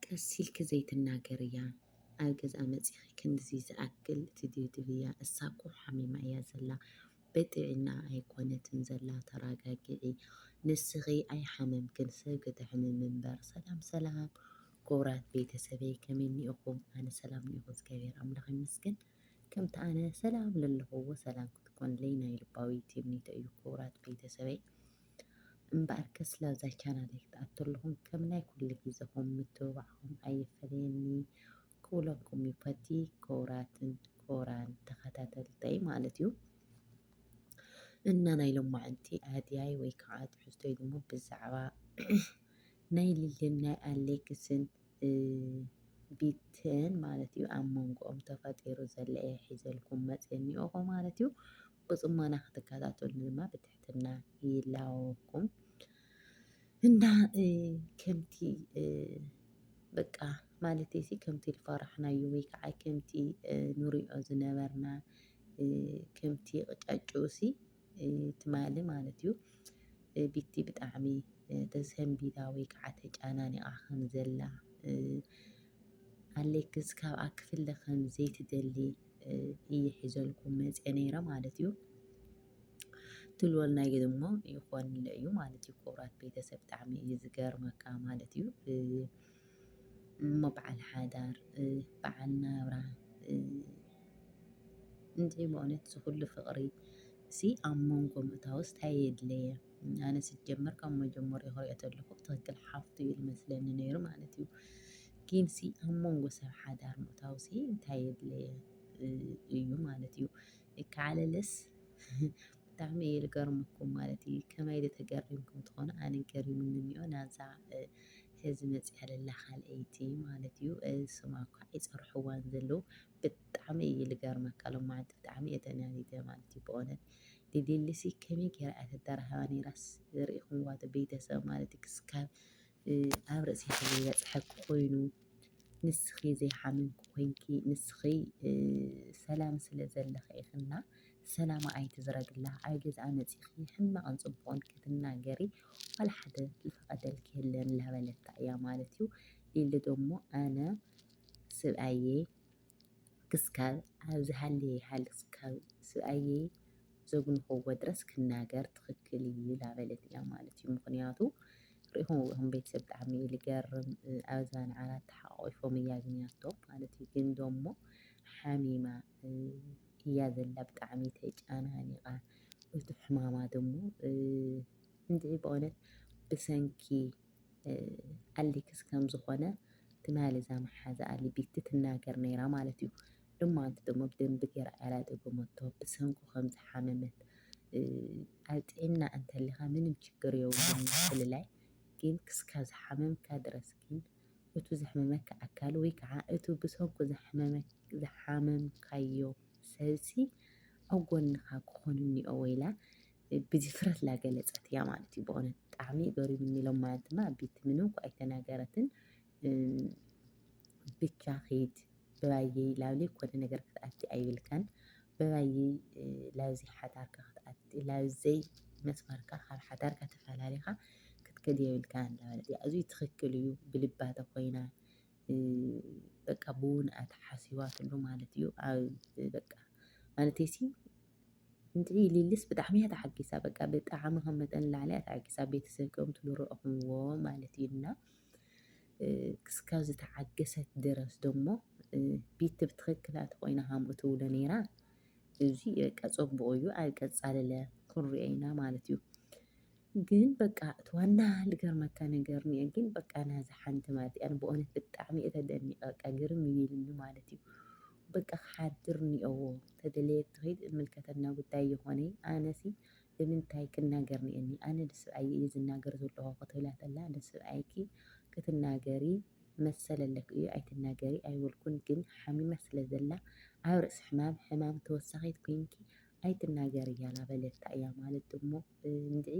ቀስ ኢልኪ ዘይትናገርያ ኣብ ገዝኣ መጺኺ ክንድዚ ዝኣክል ትድብድብያ እሳ እኮ ሓሚማ እያ ዘላ ብጥዒናኣ ኣይኮነትን ዘላ ተራጋግዒ ንስኺ ኣይሓመምክን ሰብ ክተሕምሚ እምበር ሰላም ሰላም ኩቡራት ቤተሰበይ ከመይ እኒኢኹም ኣነ ሰላም እኒኢኹ እግዚኣብሔር ኣምላኽ ይመስገን ከምቲ ኣነ ሰላም ለለኹዎ ሰላም ክትኮንለይ ናይ ልባዊ ትምኒተይ እዩ ኩቡራት ቤተሰበይ እምበኣርከስ ላብዛ ቻናለይ ክትኣቱ ኣለኹም ከም ናይ ኩሉ ግዜኹም ምትብባዕኹም ኣይፈለየኒ ክብለኩም ይፈቲ ክቡራትን ክቡራን ተኸታተልተይ ማለት እዩ። እና ናይ ሎማዕንቲ ኣድያይ ወይ ከዓ ትሕዝቶይ ድማ ብዛዕባ ናይ ልልን ናይ ኣሌክስን ቢትን ማለት እዩ ኣብ መንጎኦም ተፈጢሩ ዘለየ ሒዘልኩም መፅየ እኒኦኹ ማለት እዩ። ብፅሞና ክትከታተሉን ድማ ብትሕትና ይላወኩም እና ከምቲ በቃ ማለት ሲ ከምቲ ዝፈራሕናዮ ወይ ከዓ ከምቲ ንሪኦ ዝነበርና ከምቲ ቕጫጭኡሲ ትማሊ ማለት እዩ ቢቲ ብጣዕሚ ተሰንቢዳ ወይ ከዓ ተጨናኒቓ ከም ዘላ ኣሌክስ ካብኣ ክፍለ ከም ዘይትደሊ እየ ሒዘልኩም መፅአ ነይረ ማለት እዩ። ትልወልና ግን እሞ ይኾንለ እዩ ማለት እዩ። ክቡራት ቤተሰብ ብጣዕሚ እዩ ዝገርመካ ማለት እዩ። እሞ በዓል ሓዳር በዓል ናብራ እንታይ በእውነት ዝኹሉ ፍቕሪ ሲ ኣብ መንጎ ምእታውስ እንታይ የድለየ? ኣነ ስጀመር ካብ መጀመርኡ ክሪኦ ተለኹ ብትኽክል ሓፍቱ እዩ ዝመስለኒ ነይሩ ማለት እዩ። ጊንሲ ኣብ መንጎ ሰብ ሓዳር ምእታውሲ እንታይ የድለየ እዩ ማለት እዩ። ይከዓለልስ ብጣዕሚ እየ ዝገርመኩም ማለት እዩ። ከመይ ኢለ ተገሪምኩም ትኾኑ ኣነ ገሪሙኒ እኒኦ ናዛ ሕዚ መፅኣ ለላ ካልኣይቲ ማለት እዩ። ስማ እኳ ይፀርሕዋን ዘለዉ ብጣዕሚ እዩ ዝገርመካ ሎማዓንቲ ብጣዕሚ እየ ተናዲደ ማለት እዩ ብእውነት ሊሊሲ ከመይ ጌራ እያ ተደራህባ ነይራስ ሪኢኹምዋ ዶ ቤተሰብ ማለት ክስካብ ኣብ ርእሲኺ ዘይበፅሐኪ ኮይኑ ንስኺ ዘይሓመምኪ ኮይንኪ ንስኺ ሰላም ስለ ዘለኺ ኢኺና ሰላማ ኣይትዝረግላ ኣብ ገዝኣ መፂኺ ሕማቕን ፅቡቕን ክትናገሪ ዋላ ሓደ ዝፈቐደልኪ የለን ላበለታ እያ ማለት እዩ። ሊሊ ደሞ ኣነ ስብኣየይ ክስካብ ኣብዚ ሃልየ ይሃልክ ክስካብ ስብኣየይ ዘጉንከዎ ድረስ ክናገር ትክክል እዩ ላበለት እያ ማለት እዩ ምክንያቱ ሪኢኹም ሪኢኹም ቤተሰብ ብጣዕሚ እዩ ልገርም ኣብዛ ንዓራት ተሓቋቂፎም እያ ግንያቶም ማለት እዩ ግን ደሞ ሓሚማ እያ ዘላ ብጣዕሚ ተጨናኒቃ እቲ ሕማማ ደሞ እንድዒ በእውነት ብሰንኪ ኣሌክስ ከም ዝኾነ ትማሊ እዛ መሓዛኣ ሊቢቲ ትናገር ነይራ ማለት እዩ። ሎማንቲ ደሞ ብደንቢ ገይራ እያ ደገመቶ ብሰንኩ ከም ዝሓመመት ኣብ ጥዕና እንተሊኻ ምንም ችግር የብሉን ምፍልላይ ግን ክስካ ዝሓመምካ ድረስ ግን እቱ ዘሕመመካ ኣካል ወይ ከዓ እቱ ብሰንኩ ዝሓመምካዮ ሰብሲ ኣብ ጎንኻ ክኾን እኒኦ ወይላ ብድፍረትላ ገለጸት እያ ማለት እዩ። በእውነት ብጣዕሚ ገሪሙኒ ኢሎም ማለት ድማ ቤቲ ምንም እኳ ኣይተናገረትን ብቻ ኺድ ብባየ ላብሊ ኮነ ነገር ክትኣቲ ኣይብልካን ብባየ ላብዚ ሓዳርካ ክትኣቲ ላብዘይ መስመርካ ካብ ሓዳርካ ተፈላሊኻ ክትከድ የብልካን እንዳበለት እያ እዙይ ትኽክል እዩ ብልባ ተኾይና በቃ ብውንኣታ ሓሲባትሉ ማለት እዩ። በቃ ማለተይሲ እንድዒ ሊሊስ ብጣዕሚ እያ ተሓጊሳ በቃ ብጣዕሚ ከም መጠን ንላዕሊ እያ ተሓጊሳ ቤተሰብ ከም ትብሉ ረእኹምዎ ማለት እዩ እና ክስካብ ዝተዓገሰት ድረስ ደሞ ቤት ብትኽክላ ተኾይና ሃምኡ ትብሎ ነይራ እዚ በቃ ፀቡቑ እዩ ኣብ ቀፃልለ ክንሪኦ ኢና ማለት እዩ ግን በቃ እቲ ዋና ልገርመካ ነገር እኒኦ ግን በቃ ናዛ ሓንቲ ማለት እያ ብእውነት ብጣዕሚ እየ ተደኒቐ በቃ ግርም እዩ ኢሉኒ ማለት እዩ በቃ ክሓድር ኒኦዎ ተደለየት ትኺድ እምልከተና ጉዳይ የኾነይ ኣነሲ ብምንታይ ክናገር ኒኤኒ ኣነ ንስብኣየይ እየ ዝናገር ዘለኹ ክትብላ ተላ ንስብኣይኪ ክትናገሪ መሰል ኣለኪ እዩ ኣይትናገሪ ኣይበልኩን ግን ሓሚማ ስለ ዘላ ኣብ ርእሲ ሕማም ሕማም ተወሳኺት ኮይንኪ ኣይትናገሪ ያላ በለታ እያ ማለት ድሞ እንድዒ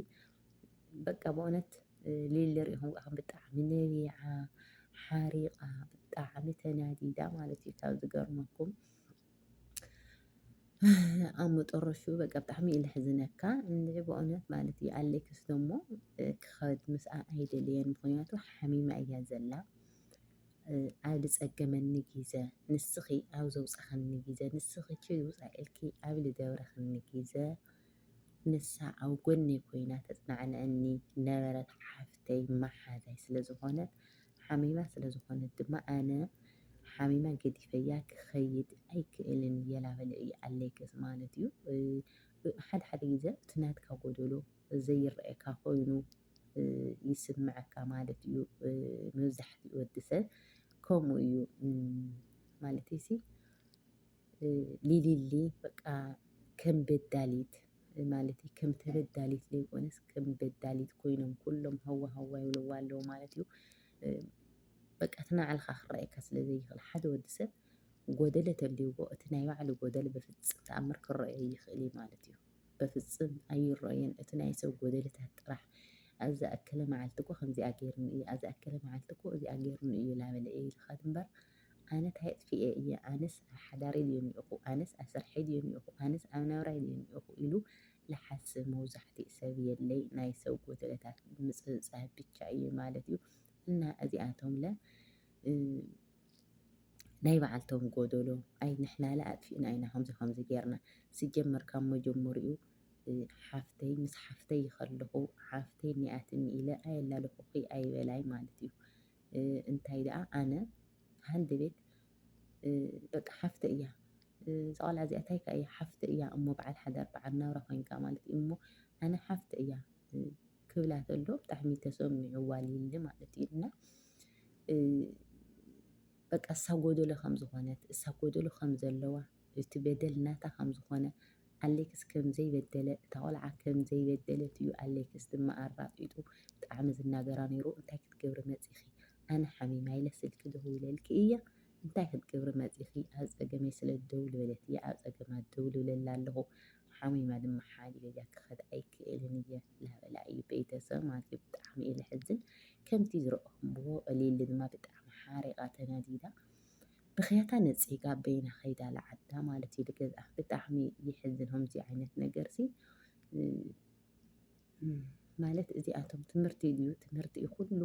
በቃ ብእውነት ሊሊ ሪኢኹም ኳ ብጣዕሚ ነቢዓ ሓሪቓ ብጣዕሚ ተናዲዳ ማለት እዩ ካብ ዝገርመኩም ኣብ መጠረሹ በቃ ብጣዕሚ እዩ ልሕዝነካ እንድዒ ብእውነት ማለት እዩ ኣሌክስ ደሞ ክኸድ ምስኣ ኣይደለየን ምኽንያቱ ሓሚማ እያ ዘላ ኣብ ዝፀገመኒ ግዘ ንስኺ ኣብ ዘውፃኸኒ ግዘ ንስኺ ኪድ ውፃ ኢልኪ ኣብ ዝደብረኽኒ ግዘ ንሳ ኣብ ጎነይ ኮይና ተጽናዕነኒ ነበረት ሓፍተይ መሓዛይ ስለ ዝኾነት ሓሚማ ስለ ዝኾነት ድማ ኣነ ሓሚማ ገዲፈያ ክኸይድ ኣይክእልን የላበለ እዩ ኣለይከስ ማለት እዩ ሓደ ሓደ ግዜ እቲ ናትካ ጎደሎ ዘይረኣየካ ኮይኑ ይስምዐካ ማለት እዩ መብዛሕትኡ ወዲ ሰብ ከምኡ እዩ ማለተይሲ ሊሊሊ በቃ ከም በዳሊት ማለት እዩ ከም ተበዳሊት ዘይኮነስ ከም በዳሊት ኮይኖም ኩሎም ሃዋ ሃዋ ይብልዋ ኣለዉ ማለት እዩ። በቃ እቲ ናይ ባዕልኻ ክረኣየካ ስለ ዘይኽእል ሓደ ወዲ ሰብ ጎደለ ተልይዎ እቲ ናይ ባዕሉ ጎደለ ብፍጽም ተኣምር ክረኣዮ ይኽእል እዩ ማለት እዩ። በፍጽም ኣይረኣዮን እቲ ናይ ሰብ ጎደለታት ጥራሕ ኣብ ዝኣከለ መዓልቲ እኮ ከምዚኣ ገይሩኒ እዩ ኣብ ዝኣከለ መዓልቲ እኮ እዚኣ ገይሩኒ እዩ እናበለ እዩ ዝኸድ እምበር። ኣነ ታይ ኣጥፊኤ እየ ኣነስ ኣብ ሓዳረይ ድየ ኒኦኹ ኣነስ ኣብ ስርሐይ ድየ ኒኦኹ ኣነስ ኣብ ናብራይ ድየ ኒኦኹ ኢሉ ልሓስብ መውዛሕቲኡ ሰብ የለይ ናይ ሰብ ጎደለታት ምጽብጻብ ብቻ እዩ ማለት እዩ እና እዚኣቶም ለ ናይ በዓልቶም ጎደሎ ኣይ ንሕናለ ኣጥፊእና ኢና ከምዚ ከምዚ ጌርና ስጀመር ካብ መጀመሪኡ ሓፍተይ ምስ ሓፍተይ ይኸለኹ ሓፍተይ ኒኣትኒ ኢለ ኣየላለኹኺ ኣይበላይ ማለት እዩ እንታይ ደኣ ኣነ ሃንደ ቤት በቃ ሓፍተ እያ እዛ ቆልዓ እዚኣ እንታይ ከ እያ ሓፍተ እያ እሞ በዓል ሓዳር በዓል ናብራ ኮይንካ ማለት እዩ እሞ ኣነ ሓፍተ እያ ክብላ ተሎ ብጣዕሚ ተሰሚዑዋ ሊሊ ማለት እዩ እና በቃ እሳ ጎደሎ ከም ዝኾነት እሳ ጎደሎ ከም ዘለዋ እቲ በደል ናታ ከም ዝኾነ ኣሌክስ ከም ዘይበደለ እታ ቆልዓ ከም ዘይበደለት እዩ ኣሌክስ ድማ ኣራጢጡ ብጣዕሚ ዝናገራ ኔሩ እንታይ ክትገብሪ መጺኺ ኣነ ሓሚማ ኢለ ስልኪ ደዊለልኪ እየ እንታይ ክትገብሪ መጺኺ ኣብ ጸገመይ ስለ ደው ልበለት እየ ኣብ ጸገማ ደው ልብለላ ኣለኹ ሓሚማ ድማ ሓዲገ እያ ክኸድ ኣይክእልን እየ ላበላ እዩ ቤተሰብ ማለት እዩ ብጣዕሚ እዩ ልሕዝን ከምቲ ዝረኦኹምዎ ሊሊ ድማ ብጣዕሚ ሓሪቓ ተናዲዳ ብኽያታ ነጺጋ በይና ከይዳ ለዓዳ ማለት እዩ ገዛ ብጣዕሚ ይሕዝን ከምዚ ዓይነት ነገር ሲ ማለት እዚኣቶም ትምህርቲ እዩ ትምህርቲ እዩ ኩሉ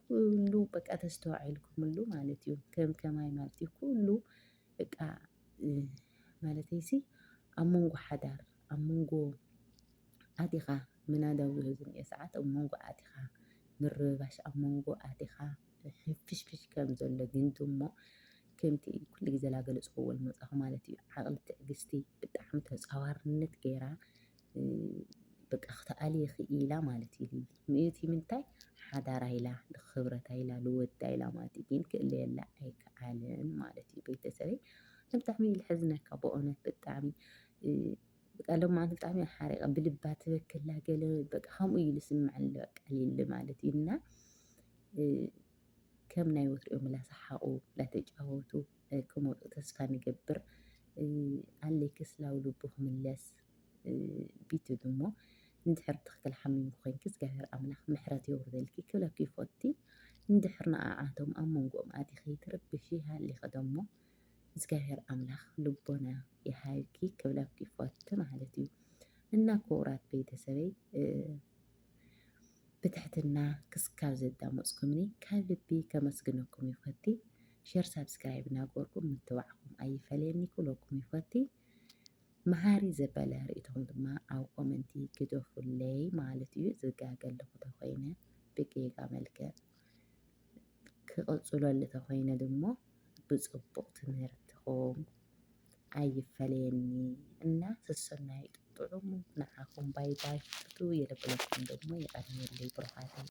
ኩሉ በቃ ተስተዋዒልኩምሉ ማለት እዩ ከም ከማይ ማለት እዩ ኩሉ በቃ ማለት እዩሲ ኣብ መንጎ ሓዳር ኣብ መንጎ ኣቲኻ ምናዳው ዝህዝን እየ ሰዓት ኣብ መንጎ ኣቲኻ ምርባሽ ኣብ መንጎ ኣቲኻ ፍሽፍሽ ከም ዘሎ ግን ድሞ ከምቲ ኩሉ ግዜ ላገለጽክዎ ልመጻኹ ማለት እዩ ዓቕሊ ትዕግስቲ ብጣዕሚ ተጻዋርነት ገይራ በቃ ክትኣልየ ክኢላ ማለት እዩ ሊሊ ምእቲ ምንታይ ሓዳራ ኢላ ንክብረታ ኢላ ንወዳ ኢላ ማለት እዩ ግን ክእለየላ ኣይከኣልን ማለት እዩ ቤተሰበይ ብጣዕሚ እዩ ልሕዝነካ ብእውነት ብጣዕሚ በቃ ሎማን ብጣዕሚ ሓሪቀ ብልባ ትበክላ ገለ በቃ ከምኡ እዩ ዝስምዐኒ በቃ ሊሊ ማለት እዩ እና ከም ናይ ወትሪኦም ላሰሓቁ ላተጫወቱ ክመፁ ተስፋ ንገብር ኣለይ ክስላው ልቡ ክምለስ ቢቱ ድሞ እንድሕር ትኽክል ሓሚምኩ ኮይንኪ እግዚኣብሔር ኣምላኽ ምሕረት የውርደልኪ ክብለኪ ይፈቲ እንድሕር ንኣዓቶም ኣብ መንጎኦም ኣቲኺ ትርብሺ ሃሊኺ ደሞ እግዚኣብሔር ኣምላክ ልቦና ይሃብኪ ክብለኪ ይፈቱ ማለት እዩ እና ክቡራት ቤተሰበይ ብትሕትና ክስካብ ዘዳመፅኩምኒ ካብ ልቢ ከመስግነኩም ይፈቲ ሸር ሳብስክራይብ እናገበርኩም ምትባዕኩም ኣይፈለየኒ ክብለኩም ይፈቲ መሃሪ ዘበለ ርእቶም ድማ ኣብ ኮመንቲ ግደፉለይ ማለት እዩ ዝጋገለኹ ተኮይነ ብጌጋ መልክዕ ክቕፅለሉ ተኾይነ ድሞ ብፅቡቕ ትምህርትኹም ኣይፈለየኒ እና ሰሰናዩ ጥዑም ንዓኹም ባይ ባይ ፍትው የለብለኩም ደግሞ የቐንየለይ ብሩኻተይ።